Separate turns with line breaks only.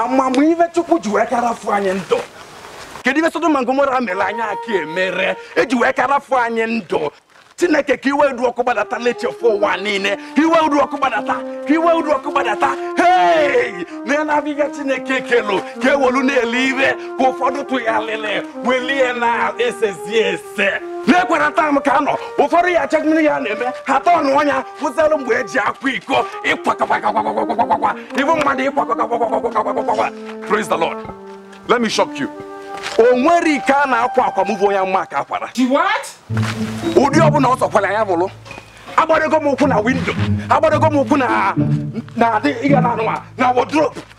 amamihe chukwu ji wee ka rafụ anyị ndụ kedu ive sodom na gomora mere anyị aka emere e ji wee ka rafụ anyị ndụ chineke ka iwe udu ọkụ gbadata lechafụ ụwa niile ka iwe udu ọkụ gbadata ka iwe udu ọkụ gbadata hei na-enabiga chineke kelu ka e welu na-ele ire ka ụfọdụ tụgharịrị welie na esezie ese na-ekwere taa m ka nọ ụfọdụ ya achọ mmiri ya na-eme ha tọọ ọnụ ọnya kwụsịalụ mgbe e ji akwa iko ịkwakọkwakwakwakwakwakwa ịbụ mmadụ ịkwakọkwakwakwakwakwakwa praise the lord let me shock you o nwere ike a na-akwa akwamuvu onye mma ka akwara ụdị ọbụla ọ sọkwara ya bụrụ agbadogo m ụkwụ na window agbadogo m ụkwụ na na adị ịga na anụma na wardrobe